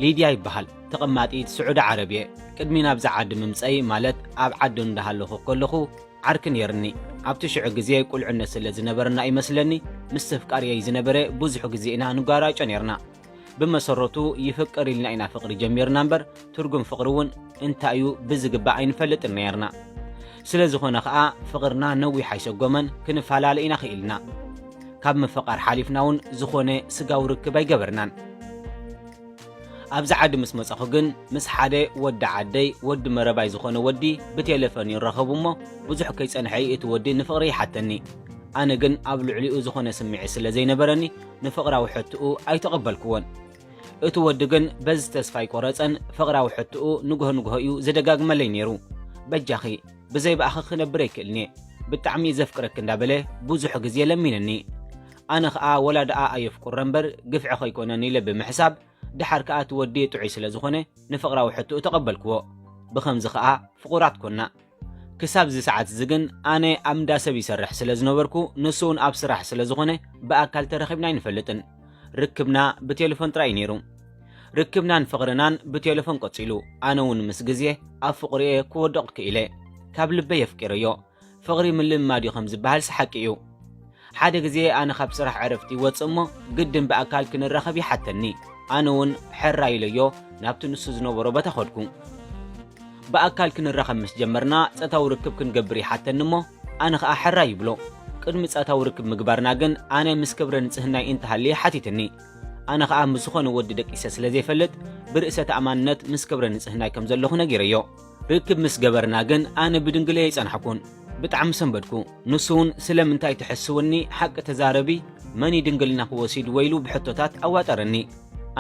ሊድያ ይበሃል ተቐማጢት ስዑዲ ዓረብ እየ ቅድሚ ናብዚ ዓዲ ምምጸይ ማለት ኣብ ዓዲ እንዳሃለኹ ከለኹ ዓርኪ ኔርኒ ኣብቲ ሽዑ ግዜ ቁልዕነት ስለ ዝነበረና እዩ መስለኒ ምስ ተፍቃርየይ ዝነበረ ብዙሕ ግዜ ኢና ንጓራጮ ኔርና ብመሰረቱ ይፍቅር ኢልና ኢና ፍቕሪ ጀሚርና እምበር ትርጉም ፍቕሪ እውን እንታይ እዩ ብዝግባእ ኣይንፈልጥን ነይርና። ስለ ዝኾነ ኸኣ ፍቕርና ነዊሕ ኣይሰጎመን፣ ክንፈላለ ኢና ክኢልና። ካብ ምፍቓር ሓሊፍና እውን ዝኾነ ስጋዊ ርክብ ኣይገበርናን። ኣብዚ ዓዲ ምስ መጸኹ ግን ምስ ሓደ ወዲ ዓደይ ወዲ መረባይ ዝኾነ ወዲ ብቴለፈን ይራኸቡ እሞ ብዙሕ ከይጸንሐ እዩ እቲ ወዲ ንፍቕሪ ይሓተኒ። ኣነ ግን ኣብ ልዕሊኡ ዝኾነ ስምዒት ስለ ዘይነበረኒ ንፍቕራዊ ሕትኡ ኣይተቐበልክዎን። እቲ ወዲ ግን በዚ ተስፋ ኣይቆረጸን፣ ፍቕራዊ ሕትኡ ንግሆ ንግሆ እዩ ዝደጋግመለይ ነይሩ። በጃኺ ብዘይ ብኣኺ ክነብር ኣይክእልን'የ፣ ብጣዕሚ እዩ ዘፍቅረኪ እንዳበለ ብዙሕ ግዜ ለሚንኒ። ኣነ ኸኣ ወላ ደኣ ኣየፍቁረ እምበር ግፍዒ ከይኮነኒ ኢለ ብምሕሳብ ደሓር ከኣ እቲ ወዲ ጥዑይ ስለ ዝኾነ ንፍቕራዊ ሕትኡ ተቐበልክዎ። ብኸምዚ ኸኣ ፍቑራት ኮና። ክሳብ እዚ ሰዓት እዚ ግን ኣነ ኣብ እንዳ ሰብ ይሰርሕ ስለ ዝነበርኩ ንሱ እውን ኣብ ስራሕ ስለ ዝኾነ ብኣካል ተረኺብና ኣይንፈልጥን። ርክብና ብቴለፎን ጥራይ እዩ ነይሩ። ርክብናን ፍቕርናን ብቴለፎን ቀጺሉ። ኣነ እውን ምስ ግዜ ኣብ ፍቕሩ'የ ክወድቕ ክኢለ። ካብ ልበይ ኣፍቂረዮ። ፍቕሪ ምልምማድ እዩ ከም ዝበሃልስ ሓቂ እዩ። ሓደ ግዜ ኣነ ካብ ስራሕ ዕረፍቲ ይወጽእ እሞ ግድን ብኣካል ክንራኸብ ይሓተኒ። ኣነ እውን ሕራይ ኢለዮ ናብቲ ንሱ ዝነበሮ ቦታ ከድኩ። ብኣካል ክንራኸብ ምስ ጀመርና ጸታዊ ርክብ ክንገብር ይሓተኒ እሞ ኣነ ከኣ ሕራይ ይብሎ። ቅድሚ ጸታዊ ርክብ ምግባርና ግን ኣነ ምስ ክብረ ንጽህናይ እንተሃልየ ሓቲትኒ። ኣነ ከኣ ምስ ዝኾነ ወዲ ደቂሰ ስለ ዘይፈልጥ ብርእሰ ተኣማንነት ምስ ክብረ ንጽህናይ ከም ዘለኹ ነጊረዮ። ርክብ ምስ ገበርና ግን ኣነ ብድንግለይ ኣይጸናሕኩን ብጣዕሚ ሰንበድኩ ንሱ ውን ስለምንታይ ትሕስውኒ ሓቂ ተዛረቢ መን እዩ ድንግልናኺ ወሲድዎ ኢሉ ብሕቶታት ኣዋጠረኒ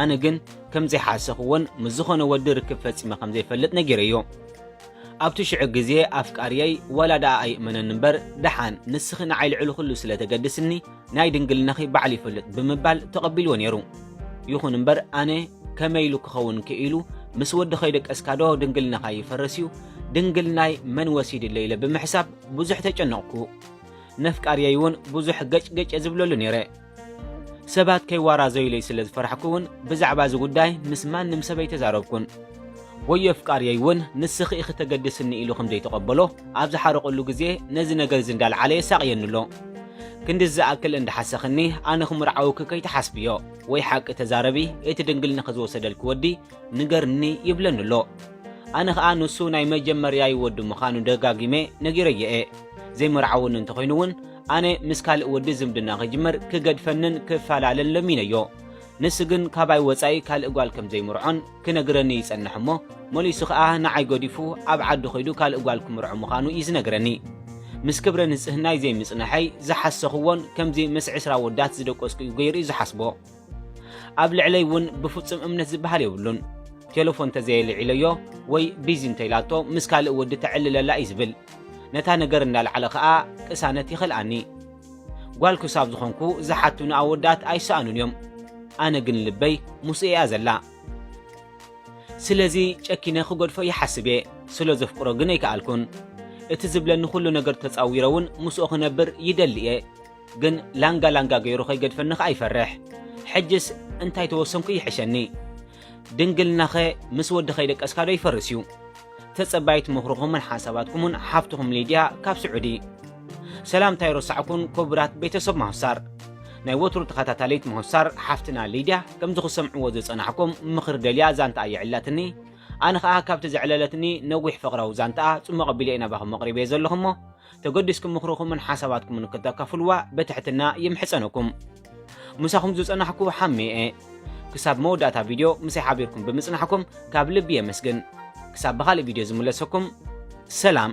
ኣነ ግን ከም ዘይሓሰኽዎን ምስ ዝኾነ ወዲ ርክብ ፈጺመ ከም ዘይፈልጥ ነጊረዮ ኣብቲ ሽዑ ግዜ ኣፍቃርየይ ዋላ ደኣ ኣይእመነኒ እምበር ደሓን ንስኺ ንዓይ ልዕሊ ኩሉ ስለ ተገድስኒ ናይ ድንግልናኺ ባዕል ይፈልጥ ብምባል ተቐቢልዎ ነይሩ። ይኹን እምበር ኣነ ከመይ ኢሉ ክኸውን ክኢሉ ምስ ወዲ ከይደቀስካ ዶ ድንግልናኻ ይፈርስ እዩ ድንግልናይ መን ወሲድለይ ኢለ ብምሕሳብ ብዙሕ ተጨነቕኩ። ነፍቃርየይ እውን ብዙሕ ገጭገጭ ዝብለሉ ነይረ። ሰባት ከይዋራዘዩለይ ስለ ዝፈራሕኩ እውን ብዛዕባ እዚ ጉዳይ ምስ ማንም ሰብ ኣይተዛረብኩን። ወዮ ኣፍቃርየይ እውን ንስኺ ኢኺ ተገድስኒ ኢሉ ከም ዘይተቐበሎ ኣብ ዝሓረቐሉ ግዜ ነዚ ነገር እዚ እንዳልዓለ የሳቕየኒ ኣሎ። ክንድዚ ዝኣክል እንዳሓሰኽኒ ኣነ ክምርዓውኪ ከይትሓስብዮ ወይ ሓቂ ተዛረቢ እቲ ድንግልንኺ ዝወሰደልኪ ወዲ ንገርኒ ይብለኒ ኣሎ። ኣነ ኸኣ ንሱ ናይ መጀመርያይ ወዲ ምዃኑ ደጋጊመ ነጊረዮ እየ። ዘይምርዓውኒ እንተኾይኑ እውን ኣነ ምስ ካልእ ወዲ ዝምድና ክጅምር ክገድፈንን ክፋላለን ለሚነዮ። ንሱ ግን ካባይ ወጻኢ ካልእ ጓል ከም ዘይምርዖን ክነግረኒ ይጸንሕ እሞ መሊሱ ከኣ ንዓይ ገዲፉ ኣብ ዓዱ ከይዱ ካልእ ጓል ክምርዖ ምዃኑ እዩ ዝነግረኒ። ምስ ክብረ ንጽህናይ ዘይምጽንሐይ ዝሓሰኽዎን ከምዚ ምስ ዕስራ ኣወዳት ዝደቆስኩ'ዩ ገይሩ'ዩ ዝሓስቦ። ኣብ ልዕለይ እውን ብፍጹም እምነት ዝበሃል የብሉን። ቴለፎን ተዘየልዒለዮ ወይ ቢዚ እንተኢላቶ ምስ ካልእ ወዲ ተዕልለላ እዩ ዝብል። ነታ ነገር እንዳልዓለ ከኣ ቅሳነት ይኸልኣኒ። ጓል ክሳብ ዝኾንኩ ዝሓቱኒ ኣወዳት ኣይሰኣኑን እዮም ኣነ ግን ልበይ ምስኡ እያ ዘላ ስለዚ ጨኪነ ክገድፎ ይሓስብ እየ ስለ ዘፍቅሮ ግን ኣይከኣልኩን እቲ ዝብለኒ ኩሉ ነገር ተጻዊረ እውን ምስኡ ክነብር ይደሊ እየ ግን ላንጋ ላንጋ ገይሩ ከይገድፈኒ ከኣ ይፈርሕ ሕጅስ እንታይ ተወሰንኩ ይሕሸኒ ድንግልናኸ ምስ ወዲ ከይደቀስካ ዶ ይፈርስ እዩ? ተጸባይት ምኽርኹምን ሓሳባትኩምን ሓፍትኹም ሊድያ ካብ ስዑዲ። ሰላምታ ኣይረሳዕኩን ኩቡራት ቤተሰብ ማሆሳር። ናይ ወትሩ ተኸታታሊት ማሆሳር ሓፍትና ሊድያ ከምዚ ክሰምዕዎ ዝጸናሕኩም ምኽሪ ደልያ ዛንትኣ የዕላትኒ ኣነ ከኣ ካብቲ ዘዕለለትኒ ነዊሕ ፍቕራዊ ዛንትኣ ጽሙቕ ኣቢለ ኢና ባኹም ኣቕሪበዮ ዘለኹ እሞ ተገዲስኩም ምኽርኹምን ሓሳባትኩምን ክተካፍልዋ በትሕትና ይምሕጸነኩም። ምሳኹም ዝጸናሕኩ ሓሜ እየ። ክሳብ መወዳእታ ቪድዮ ምሳይ ሓቢርኩም ብምጽናሕኩም ካብ ልቢ የመስግን። ክሳብ ብኻልእ ቪድዮ ዝምለሰኩም ሰላም።